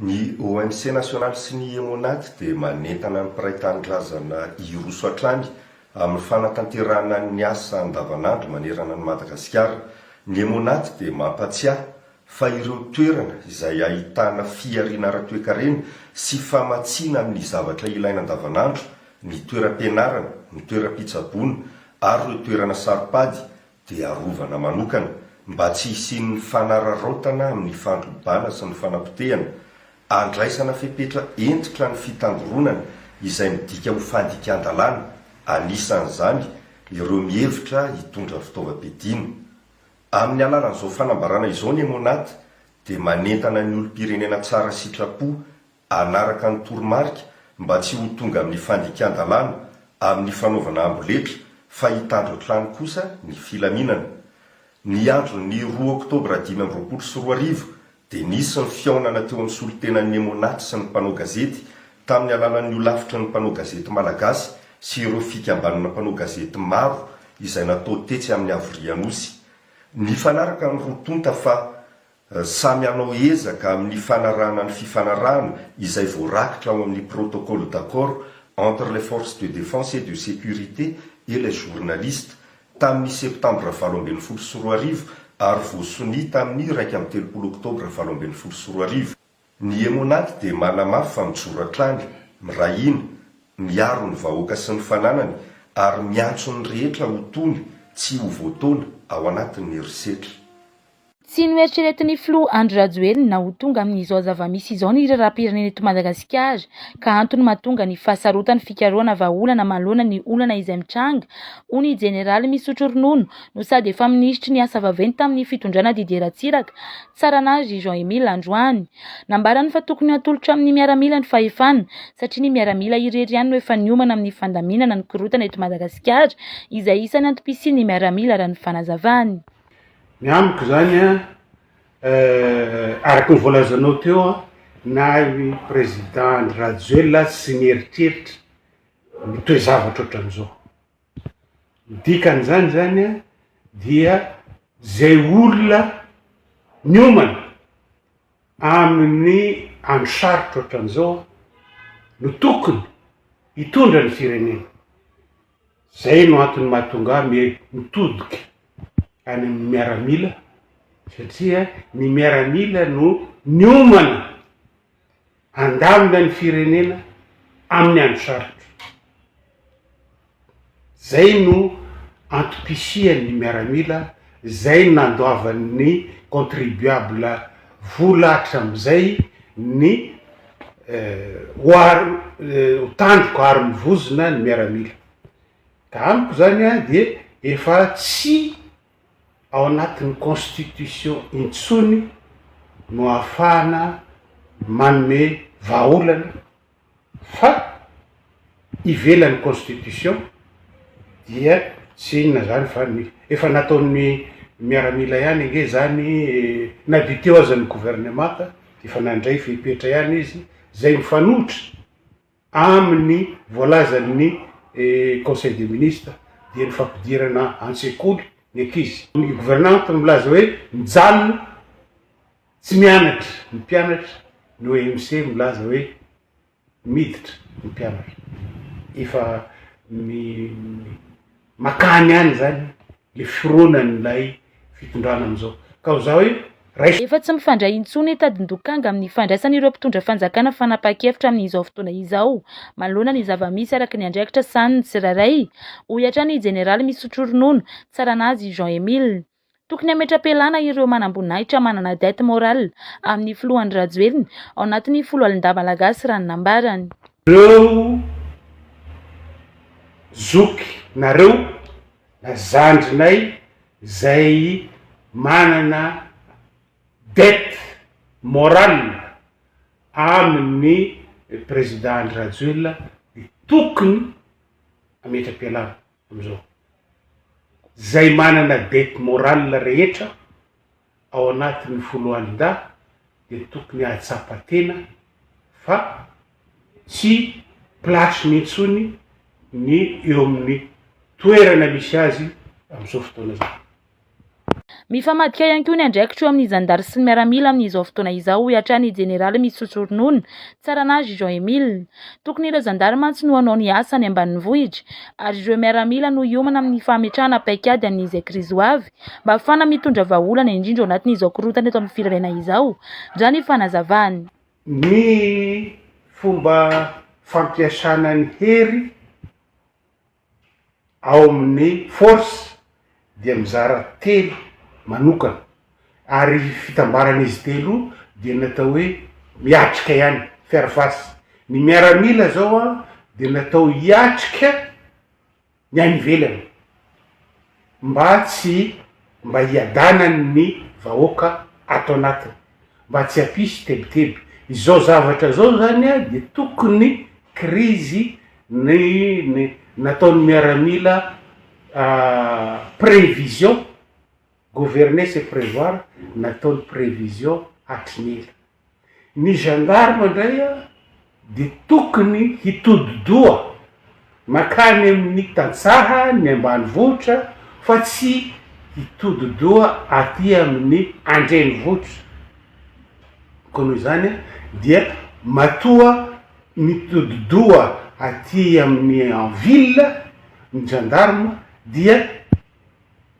Ny ONC nasionaly sy ny Emonad dia manentana ny mpiray tanindrazana hiroso hatrany amin'ny fanatanterahana ny asa andavanandro manerana an'i Madagasikara. Ny Emonad dia mampatsiahy fa ireo toerana izay ahitana fihariana ara-toekarena sy famatsiana amin'ny zavatra ilaina andavanandro, ny toeram-pianarana, ny toeram-pitsaboana ary ireo toerana saro-pady, dia arovana manokana mba tsy hisian'ny fanararaotana amin'ny fandrobana sy ny fanapotehana, andraisana fepetra hentitra ny fitangoronana izay midika ho fandikan-dalàna, anisan'izany ireo mihevitra hitondra fitaovam-piadiana. Amin'ny alalan'izao fanambarana izao ny Emonat dia manentana ny olom-pirenena tsara sitrapo, hanaraka ny toromarika mba tsy ho tonga amin'ny fandikan-dalàna amin'ny fanaovana amboletra fa hitandro hatrany kosa ny filaminana. Ny andron'ny roa oktobra dimy amby roapolo sy roa arivo dia nisy ny fihaonana teo amin'ny solontenan'ny Emmonat sy ny mpanao gazety tamin'ny alalan'ny holafitry ny mpanao gazety malagasy sy ireo fikambanana mpanao gazety maro izay natao tetsy amin'ny Havorianosy. Nifanaraka ny roa tonta fa Samy hanao ezaka amin'ny fanarahana ny fifanarahana izay voarakitra ao amin'ny Protocole d'accord entre les Forces de Défense et de Sécurité et les Journalistes tamin'ny Septambra valo ambin'ny folo sy roa arivo ary voasonia tamin'ny iraika amby telopolo Oktobra valo ambin'ny folo sy roa arivo. Ny Emonat dia manamafy fa mijoro hatrany, miray hina, miaro ny vahoaka sy ny fananany ary miantso ny rehetra ho tony tsy ho voataona ao anatin'ny herisetra. Tsy noeritreretin'ny filoha Andry Rajoelina ho tonga amin'izao zava-misy izao ny raharaham-pirenena eto Madagasikara ka antony mahatonga ny fahasarotan'ny fikarohana vahaolana manoloana ny olana izay mitranga, hoy ny jeneraly misotro ronono no sady efa minisitry ny asa vaventy tamin'ny fitondrana Didier Ratsiraka. Tsaran'azy Jean Emile androany. Nambarany fa tokony hatolotra amin'ny miaramila ny fahefana satria ny miaramila irery ihany no efa niomana amin'ny fandaminana ny korontana eto Madagasikara izay isan'ny antom-pisian'ny miaramila raha ny fanazavany. Ny amiko izany araka ny voalazanao teo na i Président Andry Rajoelina aza tsy nieritreritra ny toe-javatra ohatran'izao. Ny dikan'izany izany dia izay olona niomana amin'ny andro sarotra ohatran'izao no tokony hitondra ny firenena. Izay no antony mahatonga ahy mi- mitodika any amin'ny miaramila satria ny miaramila no niomana. handamina ny firenena amin'ny andro sarotra. Zay no antom-pisian'ny miaramila, zay no nandoavan'ny contribuable vola hatramin'izay ny ho tandroko ary mivozona ny miaramila. Ka amiko zany dia efa tsy ao anatin'ny constitution intsony no ahafahana manome vahaolana fa ivelan'ny constitution dia tsy inona izany fa ny efa nataon'ny miaramila ihany ange izany e, na dia teo aza ny gouvernemanta dia efa nandray fepetra ihany izy izay mifanohitra Amin'ny voalazan'ny Conseil des ministres dia ny fampidirana an-tsekoly ny ankizy. Ny gouvernante milaza hoe mijanona tsy mianatra ny mpianatra, ny OMC milaza hoe miditra ny mpianatra. Efa mi. Makany any zany le fironan'ilay fitondrana amizao ka ho za hoe raiso. Efa tsy mifandray intsony i Tadindokanga amin'ny fandraisan'ireo mpitondra fanjakana fanapahan-kevitra amin'izao fotoana izao manoloana ny zava-misy araka ny andraikitra sahanin'ny tsirairay, hoy hatrany i Jeneraly misotro ronono, Tsaranazy Jean Emile. Tokony hametra-pialana ireo manamboninahitra manana dette morale amin'ny filoha Andry Rajoelina ao anatin'ny foloalindahy malagasy raha ny nambarany. Reo zoky nareo na zandrinay zay manana dette morale amin'ny président Andry Rajoelina de tokony hametra-pialana. amzao. Zay manana dette morale rehetra ao anatin'ny foloalindahy dia tokony ahatsapa tena fa tsy place-ny intsony ny eo amin'ny toerana misy azy amzao fotoana zao. Mifamadika ihany koa ny andraikitro amin'ny zandary sy ny miaramila amin'izao fotoana izao, hoy hatrany ny jeneraly misotro ronono, Tsaranazy Jean Emile. Tokony ireo zandary mantsy no hanao ny asa any ambanivohitra, ary ireo miaramila no hiomana amin'ny fametrahana paikady an'izay krizy ho avy, mba hahafahana mitondra vahaolana, indrindra ao anatin'izao korontana eto amin'ny firenena izao, raha ny fanazavany. Ny fomba fampiasana ny hery. ao amin'ny Force dia mizara telo manokana ary fitambaran'izy telo dia ny atao hoe miatrika ihany, faire face. Ny miaramila izao an dia natao hiatrika ny any ivelany. mba tsy mba hiadanan ny vahoaka ato anatiny mba tsy hampisy tebiteby izao zavatra izao zany a dia tokony krizy ny ny nataon ny miaramila prevision gouverner c'est prevoir nataony prevision hatry ny ela. Ny gendarme indray dia tokony hitodi-doha mankany amin'ny tantsaha ny ambanivohitra fa tsy hitodi-doha aty amin'ny andrenivohitra koa noho izany dia matoa mitodi-doha aty amin'ny en ville ny gendarme dia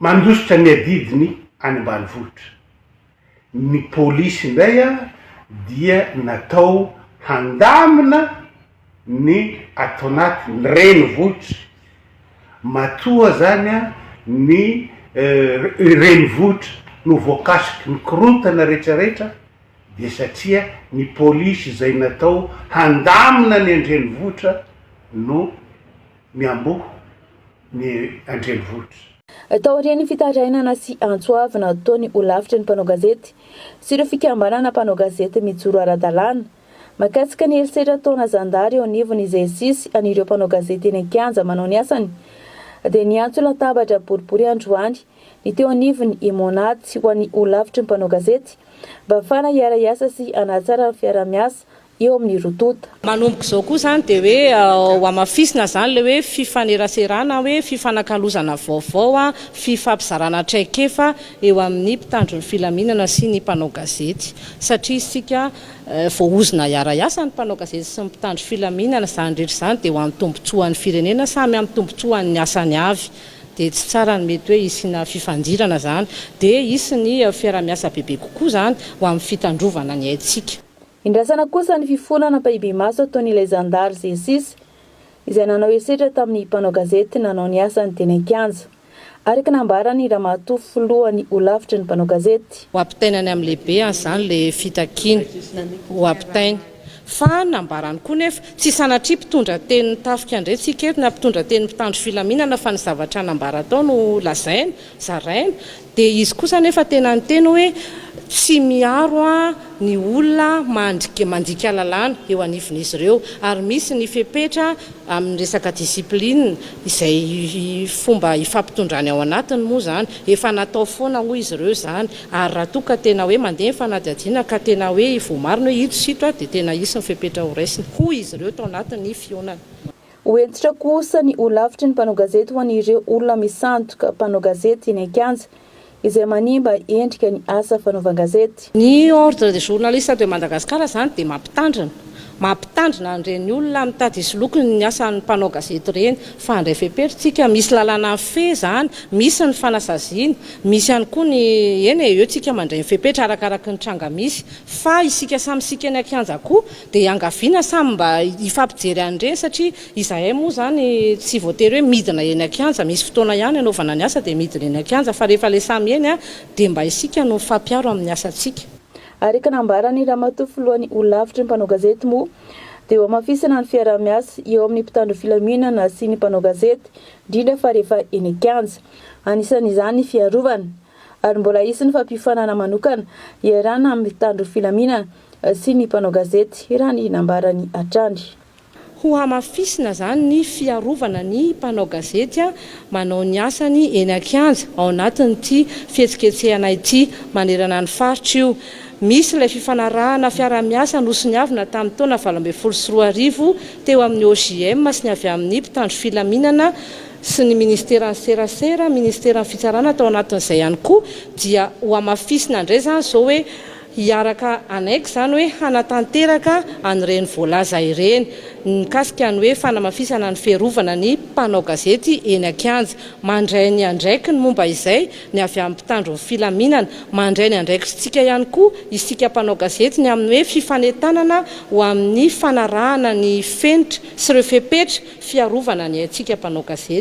Mandositra ny adidiny any ambanivohitra ny polisy indray dia natao handamina ny ato anaty ny renivohitra matoa izany ny renivohitra no voakasiky ny korontana rehetra rehetra dia satria ny polisy izay natao handamina ny an-drenivohitra no miamboho ny an-drenivohitra. Taorian'ny fitarainana sy antso avo nataony ho lavitry ny mpanao gazety sy ireo fikambanana mpanao gazety mijoro ara-dalàna, mahakasika ny herisetra ataona zandary eo anivon'ny GSIS an'ireo mpanao gazety eny an-kianja manao ny asany, dia niantso latabatra boribory androany ny teo anivon'ny Emmonat ho an'ny ho lavitry ny mpanao gazety, mba hafahana hiara-hiasa sy hanatsara ny fiaraha-miasa eo amin'ny roa tonta. Manomboka izao koa izany dia hoe hohamafisina izany ilay hoe fifaneraserana hoe fifanakalozana vaovao, fifampizarana traikefa eo amin'ny mpitandro ny filaminana sy ny mpanao gazety satria isika voaozona hiara-hiasa ny mpanao gazety sy ny mpitandro filaminana, izany rehetra izany dia ho an'ny tombotsoan'ny firenena, samy amin'ny tombotsoan'ny asany avy dia tsy tsara ny mety hoe hisiana fifandirana izany dia hisy ny fiarahamiasa bebe kokoa izany ho amin'ny fitandrovana ny aintsika. Indrasana kosa ny fifonana ampahibemaso ataon'ilay zandary Zesis, izay nanao herisetra tamin'ny mpanao gazety nanao ny asany teny an-kianja, araka ny nambaran'ny ramatoa filohan'ny holafitry ny mpanao gazety. Ho ampitaina any amin'ny lehibe any izany ilay fitakiana ho ampitaina. Fa nambarany koa nefa, tsy sanatria mpitondra tenin'ny tafika indray tsika eto na mpitondra tenin'ny mpitandro filaminana fa ny zavatra nambara tao no lazaina, zaraina. Dia izy kosa anefa tena niteny hoe, Tsy miaro aho ny olona mandrik mandika lalàna eo anivon'izy ireo, ary misy ny fepetra amin'ny resaka discipline, izay fomba ifampitondrany ao anatiny moa izany, efa natao foana hoy izy ireo izany, ary raha toa ka tena hoe mandeha ny fanadihadiana ka tena hoe voamarina hoe ito sy ito dia tena hisy ny fepetra horaisina, hoy izy ireo tao anatin'ny fihaonana. Ho hentitra kosa ny holafitry ny mpanao gazety ho an'ireo olona misandoka mpanao gazety eny an-kianja, izay manimba endrika ny asa fanaovan-gazety. Ny Ordre des journalistes de Madagascar izany dia mampitandrina. Mampitandrina an'ireny olona mitady hisoloky ny asan'ny mpanao gazety ireny, fa handray fepetra isika. Misy lalàna mifehy izany, misy ny fanasaziana, misy ihany koa ny, eny e, eo isika mandray ny fepetra arakaraky ny tranga misy. Fa isika samy isika eny an-kianja koa Dia iangaviana samy mba hifampijery an'ireny satria izahay moa izany tsy voatery hoe midina eny an-kianja, misy fotoana ihany hanaovana ny asa dia midina eny an-kianja fa rehefa ilay samy eny dia mba isika no mifampiaro amin'ny asantsika. Araka ny nambaran'i Ramatoa Filohan'ny Holavitry ny Mpanao Gazety moa dia ho hamafisana ny fiaraha-miasa eo amin'ny mpitandro filaminana sy ny mpanao gazety indrindra fa rehefa eny an-kianja. Anisan'izany ny fiarovana. Ary mbola hisy ny fampiofanana manokana hiarahana amin'ny mpitandro filaminana. sy ny mpanao gazety raha ny nambarany hatrany. Hohamafisina izany ny fiarovana ny mpanao gazety manao ny asany eny an-kianja ao anatin'ity fihetsiketsehana ity manerana ny faritra io. Misy ilay fifanarahana fiaraha-miasa nosoniavina tamin'ny taona valo ambin'ny folo sy roa arivo teo amin'ny OJM sy ny avy amin'ny mpitandro filaminana sy ny ministeran'ny serasera, ministeran'ny fitsarana tao anatin'izay ihany koa dia hohamafisina indray izany izao hoe hiaraka hanaiky izany hoe hanatanteraka an'ireny voalaza ireny mikasika ny hoe fanamafisana ny fiarovana ny mpanao gazety eny an-kianja. Mandray ny andraikiny momba izay ny avy amin'ny mpitandro ny filaminana. Mandray ny andraikitsika ihany koa isika mpanao gazety ny amin'ny hoe fifanentanana ho amin'ny fanarahana ny fenitra sy ireo fepetra fiarovana ny aintsika mpanao gazety.